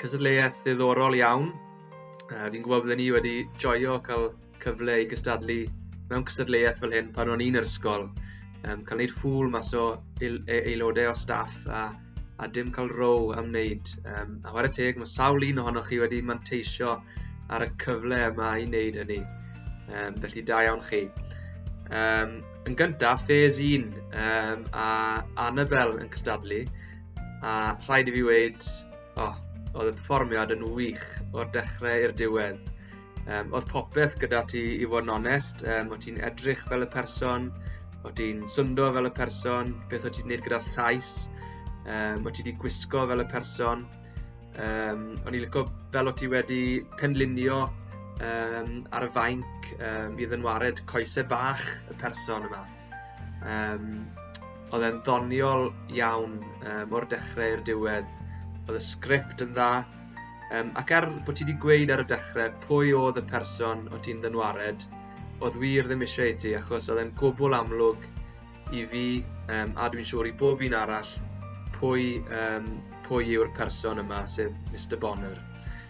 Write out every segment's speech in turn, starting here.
Cystadleuaeth ddiddorol iawn. Uh, fi'n gwybod byddwn ni wedi joio cael cyfle i gystadlu mewn cystadleuaeth fel hyn pan o'n i'n yr ysgol. Um, cael gwneud ffwl mas o e, aelodau o staff a, a dim cael row am wneud. Um, a chwarae teg, mae sawl un ohonoch chi wedi manteisio ar y cyfle yma i wneud hynny. Um, felly da iawn chi. Um, yn gyntaf, ffes 1 um, a Annabel yn cystadlu a rhaid i fi wneud O, oh, oedd y perfformiad yn wych o'r dechrau i'r diwedd. Um, oedd popeth gyda ti i fod yn onest, um, oedd ti'n edrych fel y person, oedd ti'n syndo fel y person, beth oedd ti'n gwneud gyda'r llais, um, oedd ti wedi gwisgo fel y person. Um, o'n i'n lyco fel oedd ti wedi penlinio um, ar y fainc um, i ddynwared coesau bach y person yma. Um, oedd e'n ddoniol iawn um, o'r dechrau i'r diwedd. Oedd y sgript yn dda. Um, ac er bod ti wedi gweud ar y dechrau pwy oedd y person o ti'n ddynwared, oedd wir ddim eisiau i ti, achos oedd e'n gwbl amlwg i fi, um, a dwi'n siŵr i bob un arall, pwy, um, pwy yw'r person yma, sef Mr Bonner.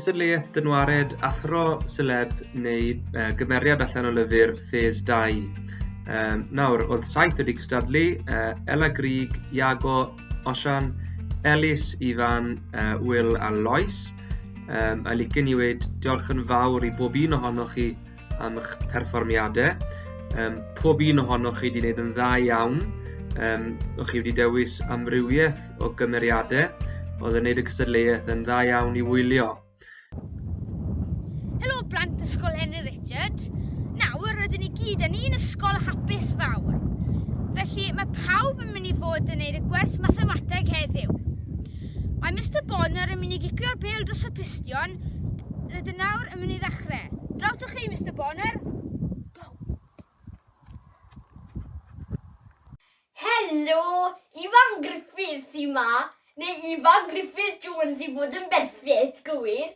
cystadleuaeth dynwared athro seleb neu uh, gymeriad allan o lyfr Phase 2. Um, nawr, oedd saith wedi cystadlu, uh, Ella Grig, Iago, Osian, Elis, Ifan, uh, Will a Lois. Um, a licen i wedi diolch yn fawr i bob un ohonoch chi am eich perfformiadau. Um, pob un ohonoch chi wedi gwneud yn dda iawn. Um, o'ch chi wedi dewis amrywiaeth o gymeriadau oedd yn gwneud y cystadleuaeth yn dda iawn i wylio. Helo blant ysgol Henry Richard. Nawr rydyn ni gyd yn un ysgol hapus fawr. Felly mae pawb yn mynd i fod yn gwneud y gwers mathemateg heddiw. Mae Mister Bonner yn mynd i gicio'r bêl dros y pistion. Rydyn nawr yn mynd i ddechrau. Draw to chi, Mister Bonner. Go! Helo, Ifan Griffith sy'n ma, neu Ifan Griffith Jones i fod yn berffeth, gywir?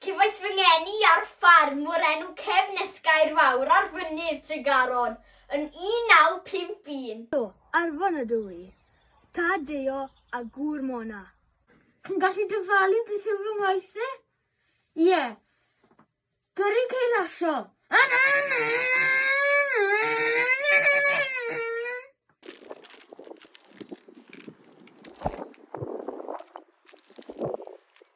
Cefais fy ngeni ar ffarm o'r enw Cefn Esgair Fawr ar Fynydd Tregaron yn 1951. Do, Arfon ydw i. Tad Deo a gŵr Mona. Chi'n gallu dyfalu beth yw fy ngwaith i? Ie. Gyrru ceir rasio.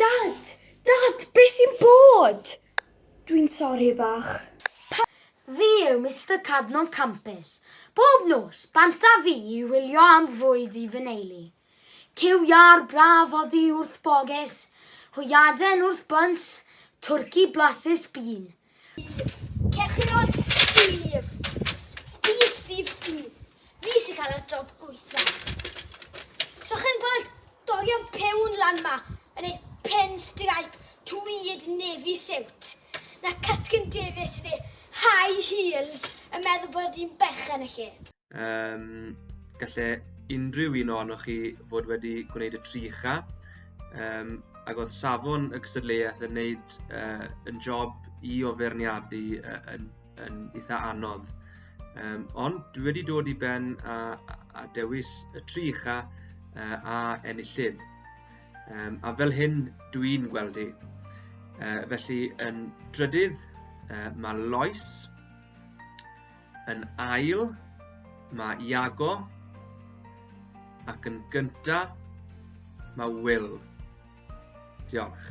Dad! Dad! Be sy'n bod? Dwi'n sori bach. Pa? Fi yw Mister Cadno'n campus bob nos bant a fi i wylio am fwyd i fy neulu. Cyw iâr braf oddi wrth boges, hwyaden wrth byns, twrci blasus bîn. Cewch Steve. Steve, Steve, Steve. Fi sy'n cael y job gweithio. So chi'n gweld dorion pewn lan ma yn ei pen stripe tweed navy suit. Na Catkin Davis yn ei high heels yn meddwl bod hi'n berchen y lle. Um, galle unrhyw un ohonoch chi fod wedi gwneud y tri cha. Um, ac oedd safon y gystadleuaeth yn neud uh, yn job i o ferniadu uh, yn, yn eitha anodd. Um, ond dwi wedi dod i ben a, a dewis y tri cha uh, a enillydd. Um, a fel hyn dwi'n gweld hi. Uh, felly yn drydydd uh, mae Lois, Yn ail, mae Iago. Ac yn gynta, mae Will. Diolch.